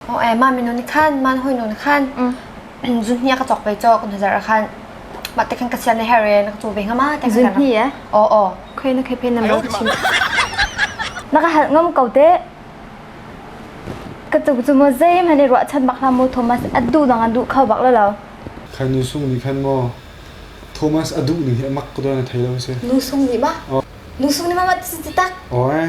Oh ai ma minu ni khan man hoi nu ni khan zun hnia ka chok pe cho kun hazar khan ma te khan ka sian her re na ka chu ve ngama te zun hni ya oh oh khoi na khei pen nam lo chin na ka hal ngam ko te ka chu chu mo zai mane ro chan bak na mo thomas adu dang adu khau bak lo lo khai nu sung ni khan mo thomas adu ni hi mak ko na thai lo se nu sung ni ma nu sung ni ma ma ti tak oh eh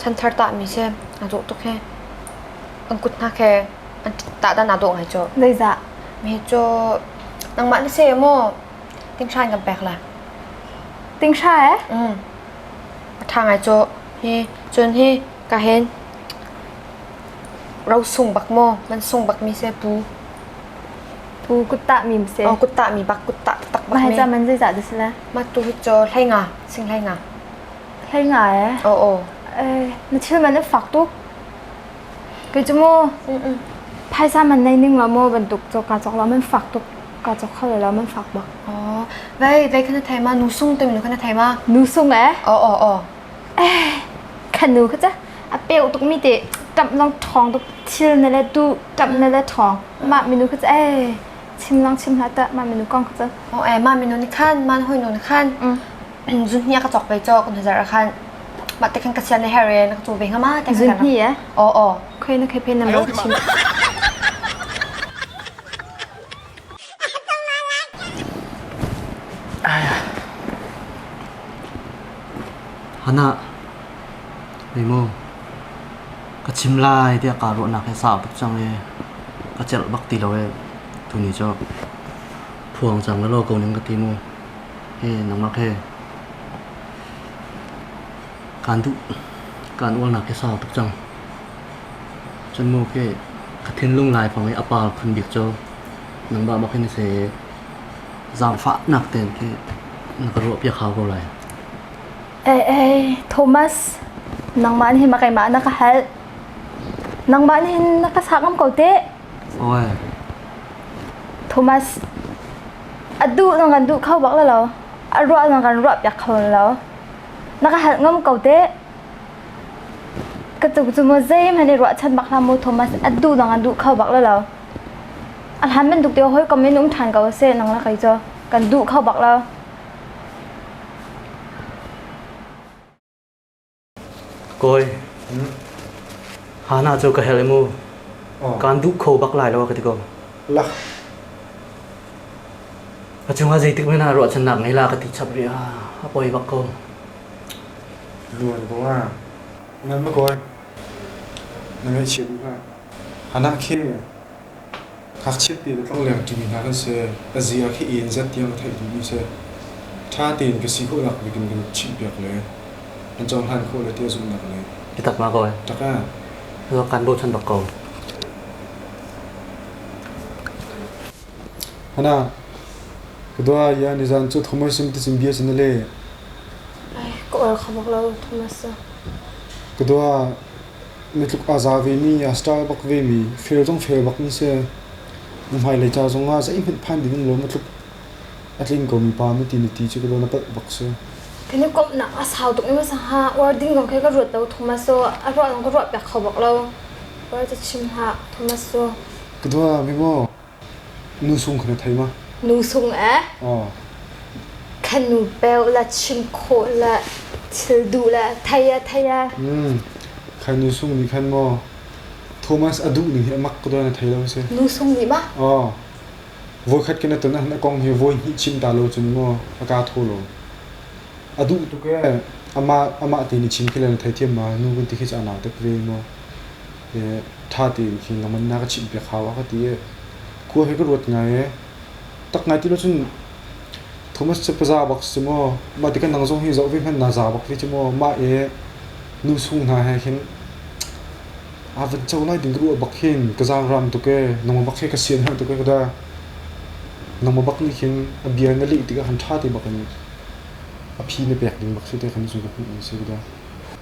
chanthar tahmi si a dawh tuk hi kan kut hna khe an tahdan aa dawh ngai cu zeizah mi cu nangmah na se maw tinghra in kan pek la tinghra eh mm a tha ngai cu hi cun hi ka hen ro sung bak maw man sung bak mi se pu pu kutta mi se o kutta mi bak kutta tak bak mi ma ca man zeizah das la ma tu hi cho hlai nga sing hlai nga Hlei nga e. Oh oh. Eh, na thil man na fak tuk. Kei cu mo. Phaisa man nei ning lo mo bantuk cho ka chok lo man fak tuk. Ka chok kho lo man fak ba. Oh. Vai vai kana thai ma nu sung te nu kana thai ma. Nu sung e. Oh oh oh. Eh, kan nu ka cha. A peu tuk mi te tap long thong tuk thil na le tu tap na le thong. Ma minu ka cha eh. Chim lang chim hla ta ma minu kong ka cha. Oh eh ma minu ni khan man hoi nu ni khan. zunhnia ka cawk pei caw kan huzar khan mah te khan ka sian na her e na ka chu ve ngama te khan zunhni e o o khoi na khoi phen na ma chim hana nemo ka chim lai dia ka ro nak he sa bak chang e ka chel bak ti lo e tu ni cho phuang chang lo ko ning ka ti mu nangmah he kaan uarnak hi sau tuk cang. Cun mu khi ka thinlung laifang i a par phun bik cu nangmah bak hi na si i zaangfahnak tein khi na ka ruahpiak hau ko lai. Ee, Thomas, nangmah nih ma keimah na ka halh. Nangmah nih na ka sa ngam ko teh. Oe. Thomas, a duh na kan duh kho bak lo lo a ruah na kan ruah piak kho lo na ka hal ngam ko te ka tuk chu mo zeim han i ruah chan bak na mo thomas a duh na kan duh kho bak lo lo a hlan men duk te hoi kom in um than ko se nang la kai cho kan duh kho bak lo Kawi, hana cu ka herh i mu. Kaan duh kho bak lai lo ka ti ko. Lak. A cungah zeitik men ah ruahchannak ngei la ka ti chap rih ah a poi bak ko. Nuan bunga. Nan ma kawi. Na ngaihchia duh hna. Hana khing. Ngakchiat tein tlangleng ṭimi hna kan si. Ka ziar hi een zet tiang a theih duhmi si. Ṭha tein ka si khawhnak bik in kan chimhpiak le kan cohlan khawh le ti a zumhnak le. Biatak ma ko e? Ṭaka. Kan bochan bak ko. Hana. Ka dua ya nizan cu thumai sim ti sim bia sin le. Ai, ka or khamok lo thomas. Ka dua Mi tluk aa za vemi, aa stal bak vemi, fel zong fel bak an si. Na hmailei ca zongah zeihmanh phan ding um lo, matluk a tling ko mi pa na ti na ti cu ka lo na palh bak si. Kan i komhnak a sau tuk i masaha uar ding zong khe ka ruat lo thomas u a ruah zong ka ruah piak kho bak lo. Uar ca chim hlah thomas u. Ka dua mi maw? Nu sung khan a thei ma? Nu sung eh? Oh. Khanu peu la chim khawh la thil duh la thei a thei a. Mm. Khanu sung nih khan maw Thomas a duh ning hi a mak ko don a thei lo se. Nu sung nih ma? Oh. Voi khat kena ton han a kong hi voi hnih chim ta lo cun maw a ka tho lo. A duh tu ke ama ama ti ni chim khi la thei thiam ma nu gun ti khi cha na tek ve maw. Hi ṭha tein khi na manna ka chimh piak hau a ka ti i khua hi ka ruat ngai i tak ngai ti lo cun Thomas cu paza bak si maw mah tikah nang zong hi zoh ve hmanh na za bak hi cu maw mah i nu sung hna he khin aa van co lai ding ka ruah bak hin ka zaang hram tuk i nangmah bak he ka sian herh tuk i ka da nangmah bak nih khin a bia na leh tikah han ṭha te bak in a phi na pek ding bak si te khan zung ka hmuh ni si ka da.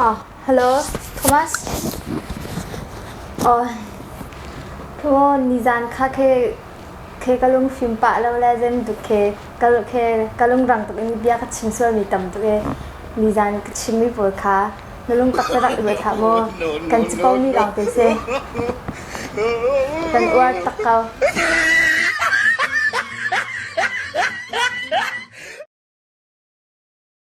Oh, hello, Thomas. Oh, thu nizan kha khe khe ka lung fim pa lo le zem duk khe ka khe ka lung rang tuk in bia ka chim sual mi tam tuk e nizan ka chim mi pawl kha na lung tak te rak i thla mo kan ci ko mi lawng te se kan uar tak ko